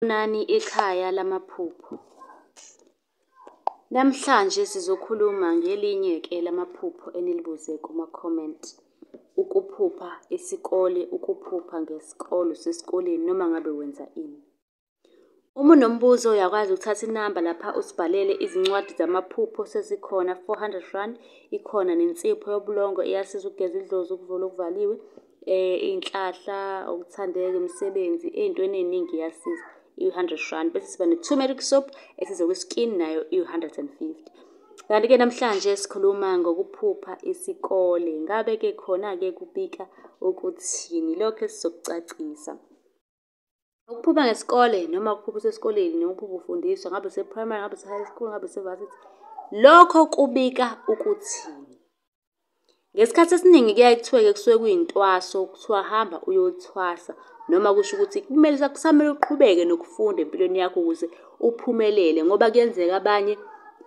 Sanibonani ikhaya lamaphupho. Namhlanje sizokhuluma ngelinye-ke lamaphupho enilibuze kuma-comment. Ukuphupha isikole, ukuphupha ngesikole, usesikoleni noma ngabe wenza ini. Uma unombuzo uyakwazi ukuthatha inamba lapha usibhalele izincwadi zamaphupho sezikhona, four hundred rand. Ikhona nensipho yobulongo eyasiza ukugeza idlozi, ukuvula okuvaliwe. Iy'nhlahla, ukuthandeka, imisebenzi, ey'ntweni ey'ningi iyasiza, iwu-hundred randi. Bese siba ne-turmeric soap esiza kwi-skin, nayo iwu-hundred and fifty. Kanti-ke namhlanje sikhuluma ngokuphupha isikole. Ngabe-ke khona-ke kubika ukuthini? Ilokho esizokucacisa. Ukuphupha ngesikole noma ukuphupha usesikoleni noma ukuphupha ufundiswa ngabe use-primary, ngabe use-high school, ngabe use-varsity, lokho kubika ukuthini? Ngesikhathi esiningi kuyaye kuthiwe-ke kusuke kuyintwaso, kuthiwa hamba uyothwasa noma kusho ukuthi kumele kusamele uqhubeke nokufunda empilweni yakho ukuze uphumelele ngoba kuyenzeka abanye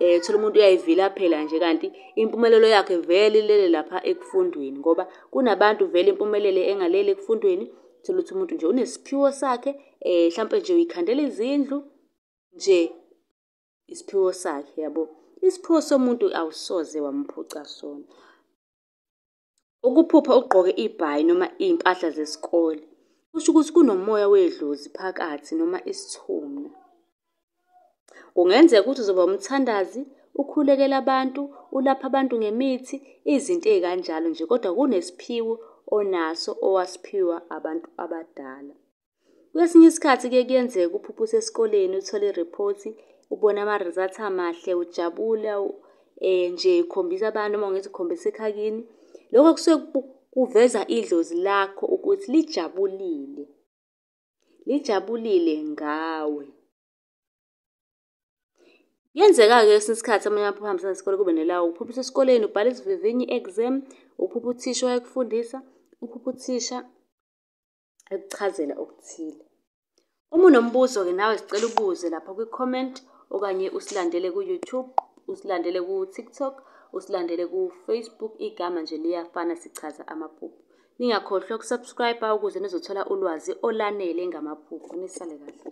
um uthole umuntu uyayivilaphela nje kanti impumelelo yakhe vele ilele lapha ekufundweni ngoba kunabantu vele impumelelo engaleli ekufundweni. Thola ukuthi umuntu nje unesiphiwo sakhe eh mhlampe nje uyikhandela izindlu nje isiphiwo sakhe yabo isiphiwo somuntu awusoze wamphuca sona ukuphupha ugqoke ibhayi noma iy'mpahla zesikole kusho ukuthi kunomoya wedlozi phakathi noma isithuna Kungenzeka ukuthi uzoba umthandazi, ukhulekele abantu, ulaphe abantu ngemithi, izinto ey'kanjalo nje, kodwa kunesiphiwo onaso owasiphiwa abantu abadala. Kwesinye isikhathi kuye kuyenzeka uphuphe usesikoleni uthole i-report, ubone ama-result amahle, ujabula nje ukhombisa abantu noma ngithi ukhombisa ekhaya kini. Loko kusuke kuveza idlozi lakho ukuthi lijabulile. lijabulile ngawe. Kuyenzeka-ke kwesinye isikhathi amanye amaphupho ahambisana nesikole kube nelawo uphupha usesikoleni ubhala isivivinyo i-exam, uphupha uthisha wayekufundisa, uphupha uthisha ekuchazela okuthile. Uma unombuzo-ke nawe sicela ubuze lapha kwi-comment okanye usilandele ku-YouTube, usilandele ku-TikTok, usilandele ku-Facebook, igama nje liyafana sichaza amaphupho. Ningakhohlwa ukusubscriber ukuze nizothola ulwazi olanele ngamaphupho. Nisale kahle.